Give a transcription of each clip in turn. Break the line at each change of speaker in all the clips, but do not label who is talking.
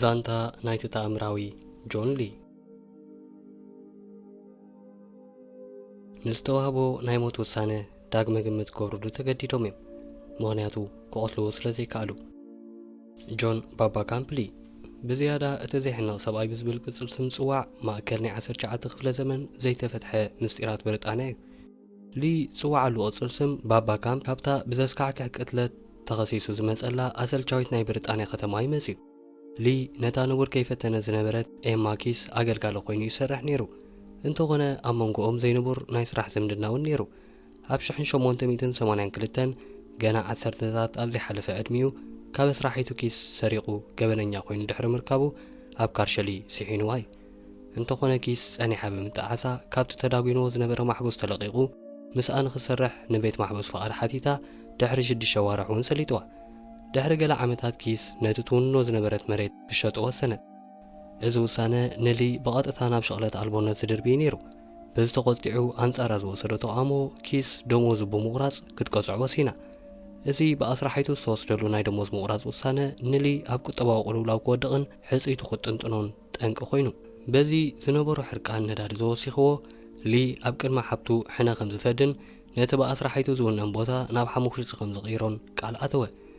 ዛንታ ናይቲ ተኣምራዊ ጆን ሊ ንዝተዋህቦ ናይ ሞት ውሳነ ዳግመ ግምት ክገብርሉ ተገዲዶም እዮም ምክንያቱ ክቐትልዎ ስለ ዘይከኣሉ ጆን ባባ ካምፕሊ፣ ብዝያዳ እቲ ዜሕንቕ ሰብኣይ ብዝብል ቅጽል ስም ዝጽዋዕ፣ ማእከል ናይ ዓሰርተ ትሽዓተ ክፍለ ዘመን ዘይተፈትሐ ምስጢራት ብሪጣንያ እዩ። ሊ ዝጽዋዓሉ ቅጽል ስም ባባ ካምፕሊ፣ ካብታ ብዘስካሕክሕ ቅትለት ተኸሲሱ ዝመጸላ ኣሰልቻዊት ናይ ብሪጣንያ ከተማ እዩ መጺኡ። ሊ ነታ ንቡር ከይፈተነት ዝነበረት ኤማ ኪስ ኣገልጋሊ ኰይኑ እዩ ዝሰርሕ ነይሩ፣ እንተዀነ ኣብ መንጎኦም ዘይንቡር ናይ ስራሕ ዝምድና እውን ነይሩ። ኣብ ሽሕን ሸሞንተ ሚእትን ሰማንያን ክልተን ገና ዓሰርተታት ኣብ ዘይሓለፈ ዕድሚኡ ካብ ኣስራሒቱ ኪስ ሰሪቑ ገበነኛ ኮይኑ ድሕሪ ምርካቡ ኣብ ካርሸሊ ሲሒኑዋ እዩ። እንተኾነ ኪስ ጸኒሓ ብምጥዓሳ ካብቲ ተዳጒኑዎ ዝነበረ ማሕቡስ ተለቒቑ ምስኣ ንኽሰርሕ ንቤት ማሕቡስ ፍቓድ ሓቲታ ድሕሪ ሽዱሽተ ኣዋርሕ እውን ሰሊጡዋ። ድሕሪ ገለ ዓመታት ኪስ ነቲ ትውንኖ ዝነበረት መሬት ክሸጦ ወሰነት። እዚ ውሳነ ንሊ ብቐጥታ ናብ ሽቕለት ኣልቦነት ዝድርቢ እዩ ነይሩ። በዚ ተቖጢዑ ኣንጻራ ዝወሰዶ ተቓውሞ ኪስ ደሞዙ ብምቑራጽ ክትቀጽዖ ወሲና። እዚ ብኣስራሒቱ ዝተወስደሉ ናይ ደሞዝ ምቑራጽ ውሳነ ንሊ ኣብ ቁጠባዊ ቅልውላው ክወድቕን ሕጽይቱ ክጥንጥኖን ጠንቂ ኮይኑ። በዚ ዝነበሮ ሕርቃን ነዳዲ ዘወሲኽዎ፣ ሊ ኣብ ቅድሚ ሓብቱ ሕነ ከምዝፈድን ነቲ ብኣስራሒቱ ዝውነን ቦታ ናብ ሓሙኽሽቲ ከምዝቕይሮን ቃል ኣተወ።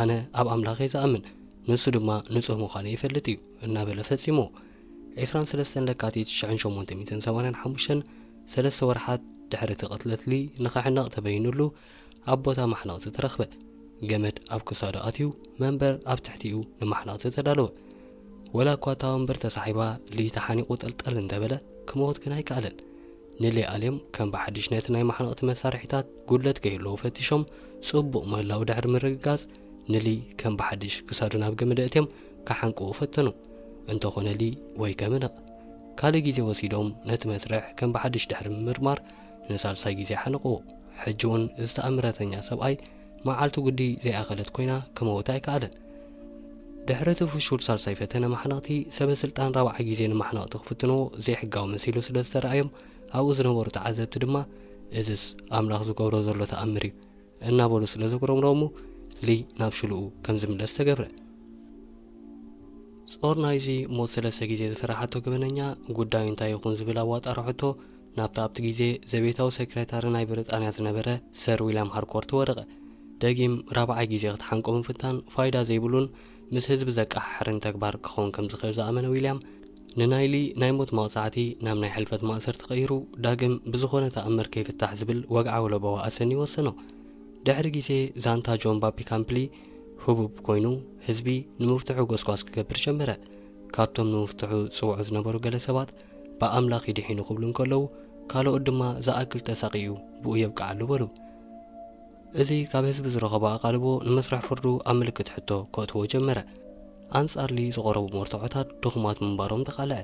ኣነ ኣብ ኣምላኽ እየ ዝኣምን ንሱ ድማ ንጹህ ምዃነይ ይፈልጥ እዩ እናበለ ፈጺምዎ። ዕስራን ሰለስተን ለካቲት ሽሕን ሸሞንተ ሚእትን ሰማንያን ሓሙሽተን ሰለስተ ወርሓት ድሕሪ እቲ ቅትለት ሊ ንኽሕነቕ ተበይኑሉ ኣብ ቦታ ማሕነቕቲ ተረኽበ። ገመድ ኣብ ክሳዱ ኣትዩ መንበር ኣብ ትሕቲኡ ንማሕነቕቲ ተዳለወ። ወላ እኳ እታ ወንበር ተሳሒባ ሊ ተሓኒቑ ጠልጠል እንተበለ ክመውት ግን ኣይከኣለን። ንሌኣሌም ከም ብሓድሽ ነቲ ናይ ማሕነቕቲ መሳርሒታት ጉድለት ከይህልዎ ፈቲሾም ጽቡቕ ምህላዉ ድሕሪ ምርግጋጽ ንሊ ከም ብሓድሽ ክሳዱ ናብ ገመድ ኣእትዮም ክሓንቅዎ ፈተኑ። እንተኾነ ሊ ወይ ከምንቕ። ካልእ ግዜ ወሲዶም ነቲ መስርሕ ከም ብሓድሽ ድሕሪ ምምርማር ንሳልሳይ ግዜ ሓነቕዎ። ሕጂ'ውን እዚ ተኣምረተኛ ሰብኣይ መዓልቱ ግዲ ዘይኣኸለት ኮይና ክመውት ኣይከኣለን። ድሕሪ እቲ ፍሹል ሳልሳይ ፈተነ ማሕነቕቲ፣ ሰበ ስልጣን ራብዓይ ግዜ ንማሕነቕቲ ክፍትንዎ ዘይሕጋዊ መሲሉ ስለ ዝተርኣዮም፣ ኣብኡ ዝነበሩ ተዓዘብቲ ድማ እዝስ ኣምላኽ ዝገብሮ ዘሎ ተኣምር እዩ እናበሉ ስለ ዘጉረምረሙ ሊ ናብ ሽልኡ ከም ዝምለስ ተገብረ። ጾር ናይዚ ሞት ሰለስተ ግዜ ዝፈረሓቶ ገበነኛ፣ ጉዳዩ እንታይ ይኹን ዝብል ኣዋጣርሖቶ፣ ናብቲ ኣብቲ ግዜ ዘቤታዊ ሰክረታሪ ናይ ብሪጣንያ ዝነበረ ሰር ዊልያም ሃርኮርት ወደቐ። ደጊም ራብዓይ ግዜ ክትሓንቆ ምፍታን ፋይዳ ዘይብሉን ምስ ህዝቢ ዘቀሓሕርን ተግባር ክኸውን ከም ዝኽእል ዝኣመነ ዊልያም፣ ንናይሊ ናይ ሞት መቕጻዕቲ ናብ ናይ ሕልፈት ማእሰርቲ ቀይሩ ዳግም ብዝኾነ ተኣምር ከይፍታሕ ዝብል ወግዓዊ ለበዋ ኣሰንዩ ወሰኖ። ድሕሪ ግዜ ዛንታ ጆን ባፒ ካምፕሊ ህቡብ ኮይኑ ህዝቢ ንምፍትሑ ጎስጓስ ክገብር ጀመረ። ካብቶም ንምፍትሑ ዝጽውዑ ዝነበሩ ገለ ሰባት፣ ብኣምላኽ እዩ ድሒኑ ክብሉ እንከለዉ ካልኦት ድማ ዝኣክል ተሳቒዩ ብኡ የብቅዓሉ በሉ። እዚ ካብ ህዝቢ ዝረኸቦ ኣቓልቦ ንመስርሕ ፍርዱ ኣብ ምልክት ሕቶ ከእትዎ ጀመረ። ኣንጻር ሊ ዝቐረቡ መርትዖታት ድኹማት ምንባሮም ተቓልዐ።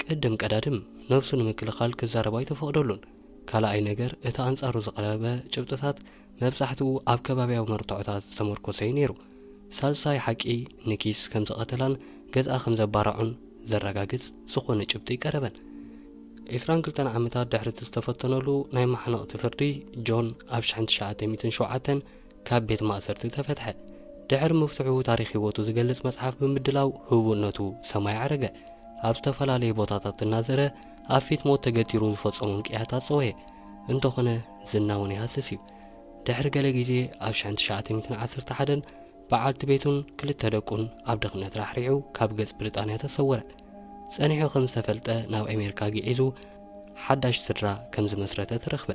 ቅድም ቀዳድም ነብሱ ንምክልኻል ክዛረብ ኣይተፈቕደሉን። ካልኣይ ነገር እቲ ኣንጻሩ ዝቐረበ ጭብጥታት መብዛሕትኡ ኣብ ከባብያዊ መርትዖታት ዝተመርኮሰ'ዩ ነይሩ። ሳልሳይ ሓቂ ንኪስ ከም ዝቐተላን ገዝኣ ከም ዘባረዖን ዘረጋግጽ ዝኾነ ጭብጢ ኣይቀረበን። ዕስራን ክልተን ዓመታት ድሕሪ'ቲ ዝተፈተነሉ ናይ ማሕነቕቲ ፍርዲ፣ ጆን ኣብ ሽሕን ትሽዓተ ሚእትን ሸውዓተን ካብ ቤት ማእሰርቲ ተፈትሐ። ድሕሪ ምፍትሑ ታሪኽ ህይወቱ ዝገልጽ መጽሓፍ ብምድላው ህቡብነቱ ሰማይ ኣዕረገ። ኣብ ዝተፈላለየ ቦታታት እናዘረ፣ ኣብ ፊት ሞት ተገቲሩ ዝፈጸሞም ቅያታት ጸወየ፣ እንተኾነ ዝና እውን ይሃስስ እዩ። ድሕሪ ገለ ግዜ ኣብ ሽሕን ትሽዓተ ሚእትን ዓሰርተ ሓደን በዓልቲ ቤቱን ክልተ ደቁን ኣብ ድኽነት ራሕሪሑ ካብ ገጽ ብሪጣንያ ተሰወረ። ጸኒሑ ከም ዝተፈልጠ ናብ ኣሜሪካ ግዒዙ ሓዳሽ ስድራ ከም ዝመስረተ ተረኽበ።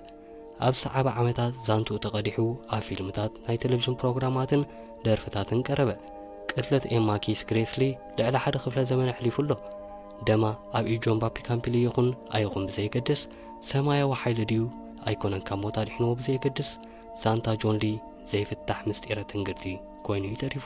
ኣብ ሰዓቢ ዓመታት ዛንትኡ ተቐዲሑ ኣብ ፊልምታት፣ ናይ ተለቪዥን ፕሮግራማትን ደርፍታትን ቀረበ። ቅትለት ኤማ ኪስ ግሬስሊ ልዕሊ ሓደ ክፍለ ዘመን ኣሕሊፉ ኣሎ። ደማ ኣብ ኢድ ጆን ባፒ ካምፒሊ ይኹን ኣይኹን ብዘየገድስ፣ ሰማያዊ ሓይሊ ድዩ ኣይኮነን ካብ ሞት ኣድሒንዎ ብዘየገድስ፣ ዛንታ ጆን ሊ ዘይፍታሕ ምስጢረ ትንግርቲ ኮይኑ'ዩ ተሪፉ።